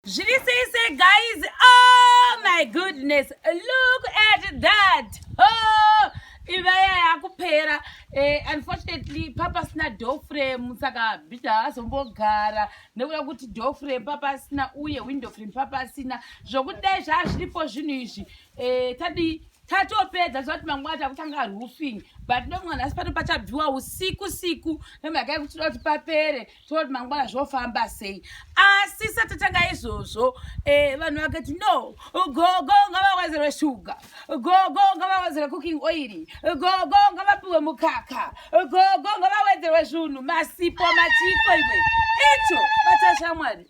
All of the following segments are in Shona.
Zviri sei sei guys? Oh my goodness. Look at that. Oh, ivaya yakupera. Eh, unfortunately papa sina door frame saka bita azombogara nekuda kuti door frame papa sina uye window frame papa sina zvokudai zvazviripo zvinhu izvi eh, tadii tatopedza zvakuti mangwana takutanga roofing but ndomwana asi pano pachabviwa usiku siku nemhaka yekuti toda kuti papere toda kuti mangwana zvofamba sei asi satatanga izvozvo eh, vanhu vakati no gogo ngavawedzerwe shuga gogo ngavawedzerwe cooking oil gogo ngavapiwe mukaka gogo ngavawedzerwe zvunhu masipo machiko iwe icho batashamwari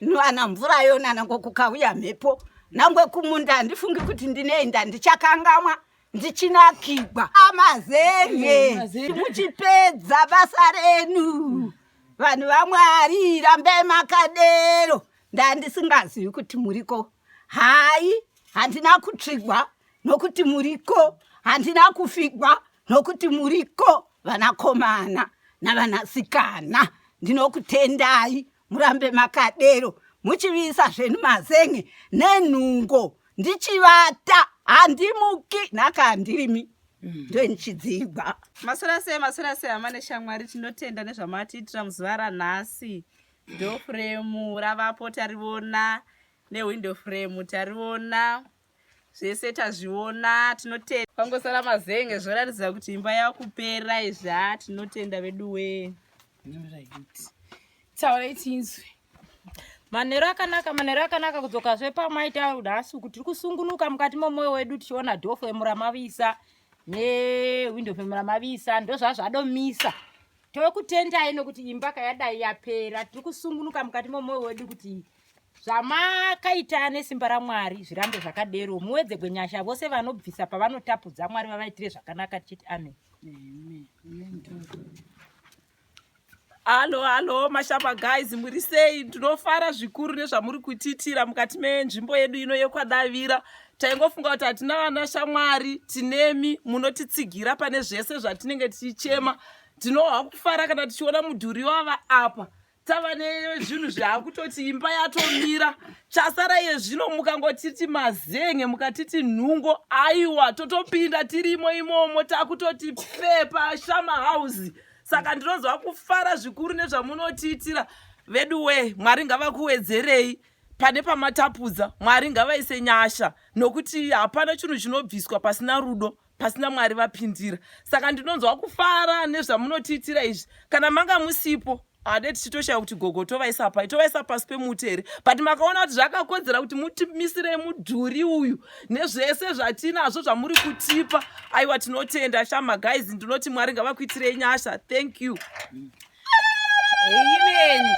nwana mvura yona nango kukauya mhepo nangwe kumunda handifungi kuti ndinoenda ndichakangamwa ndichinakigwa amazenge mm, muchipedza basa renu vanhu vamwari rambe makadero ndandisingazivi kuti muriko hayi handina kutsvigwa nokuti muriko handina kufigwa nokuti muriko vanakomana navanasikana ndinokutendai murambe makadero muchiviyisa zveni mazenge nenhungo ndichivata handimuki nhaka handirimi mm. ndoinichidzigwa masora sei masora sei hama neshamwari tinotenda nezvamatiitira muzuva ranhasi dofremu ravapo tarivona newindow fremu tarivona zvese tazviona tinotenda pangosara mazenge zvoratidza kuti imba yakupera izva tinotenda vedu wee taurai tinzwe manhero akanaka manhero akanaka kudzoka zve pamaita nhasi uku tiri kusungunuka mukati momwoyo wedu tichiona dofo emuramavisa nehwindo femuramavisa ndozvazvadomisa tokutendai nokuti imba kayadai yapera tiri kusungunuka mukati momwoyo wedu kuti zvamakaita nesimba ramwari zvirambe zvakadero muwedze gwenyasha vose vanobvisa pavanotapudza mwari vavaitire zvakanaka tichiti amen halo halo mashamba guys muri sei ndinofara zvikuru nezvamuri kutiitira mukati menzvimbo yedu ino yekwadavira taingofunga kuti hatina vana shamwari tinemi munotitsigira pane zvese zvatinenge tichichema tinohwa kufara kana tichiona mudhuri wava apa tava nezvinhu zvaakutoti imba yatomira chasara iye zvino mukangotiti mazenge mukatiti nhungo aiwa totopinda tirimo imomo takutoti pepa shama house saka ndinonzwa kufara zvikuru nezvamunotiitira vedu wee mwari ngavakuwedzerei pane pamatapudza mwari ngavaise nyasha nokuti hapana chinhu chinobviswa pasina rudo pasina mwari vapindira saka ndinonzwa kufara nezvamunotiitira izvi kana manga musipo hade tichitoshaya kuti gogo tovaisa pai tovaisa pasi pemuti here but makaona kuti zvakakodzera kuti mutimisirei mudhuri uyu nezvese zvatinazvo zvamuri kutipa aiwa tinotenda shama guys ndinoti mwari ngavakuitirei nyasha thank you Amen.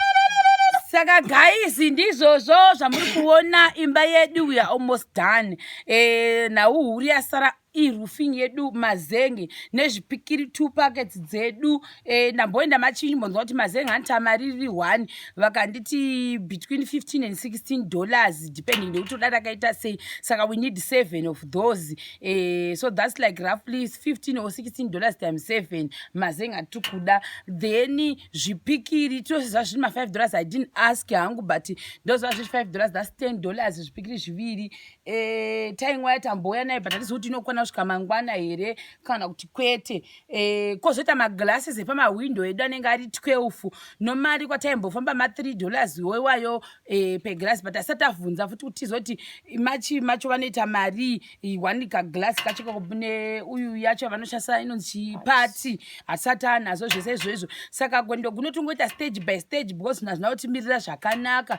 Saka guys ndizvozvo zvamuri kuona imba yedu we are almost done. Eh na uhuri yasara iroofing yedu mazenge nezvipikiri two packets dzedu eh ndamboenda machinji mbonzwa kuti mazenge antamariri one vakanditi between 15 and 16 dollars depending nekuti uda rakaita sei saka we need seven of those Eh, so that's like roughly 15 or 16 dollars time 7 mazenga tikuda then zvipikiri tose zva zviri ma5 dollars i didn't ask hangu but ndozva zviri 5 dollars that's 10 dollars zvipikiri zviviri eh, tainwa yatambouya nayo but atizivi kuti inokwana kusvika mangwana here kana kuti kwete Eh, kozoita maglasses epamahwindo edu anenge ari 12 nomari kwataimbofamba ma3 dollars iwayo eh, peglass but asati avhunza futi kuti tizoti machi macho vanoita mari one kaglass kacho kakune uyu yacho vanoshandisa inonzi party asati anazo zvese izvozvo saka gwendo gunotongoita stage by stage because nazvina kutimirira zvakanaka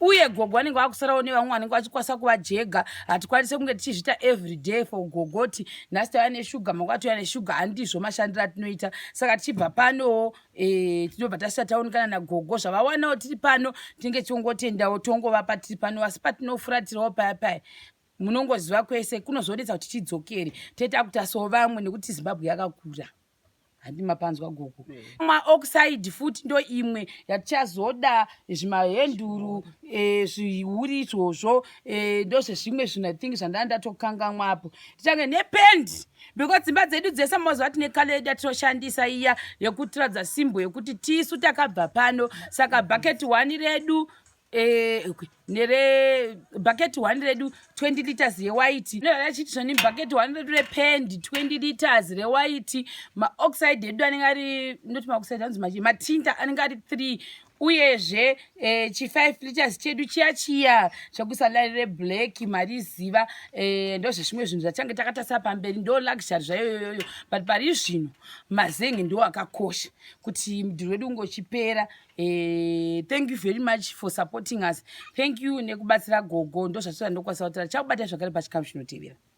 uye gogo vanenge vakusarawo nevamwe vanenge vachikwanisa kuva jega hatikwanise kunge tichizviita every day for gogo ti nhasi tava neshuga manga vatouya neshuga handizvo mashandiro atinoita saka tichibva panowo e, tinobva tasvika taonekana nagogo zvavawanawo tiri pano tinenge tiongotendawo tongovapa tiri pano asi patinofuratirawo paya paya munongoziva kwese kunozonetsa kuti tidzokere tete akuti aso vamwe nekuti zimbabwe yakakura handi mapanzwa gogo maoxide futi ndo imwe yatichazoda zvimahenduru eh, zvihuri izvozvo eh, ndozvezvimwe zvinhu i think zvandaa ndatokangamwa apo tichange nependi because dzimba dzedu dzese mazuva tine kale yedu yatinoshandisa iya yekutiradza simbo yekuti tisu takabva pano saka bucket one redu Eh, okay. nere bucket one redu 20 liters rewaiti achiti zvoni bucket one redu repend 20 liters rewaiti maoxide edu anenge ari not maoxide anzi machi matinta anenge ari three uyezve eh, chi5 liters chedu chiya chiya chekusalari reblack mari ziva eh, ndo zvechimwe zvinhu zvachange takatasira pamberi ndo luxury zvayoyoyoyo but pari zvino mazenge ndo akakosha kuti mudhiri wedu ungochipera Eh, thank you very much for supporting us thank you nekubatsira gogo ndozvatoda ndokwanisa kutira chakubata zvakare pachikamu chinotevera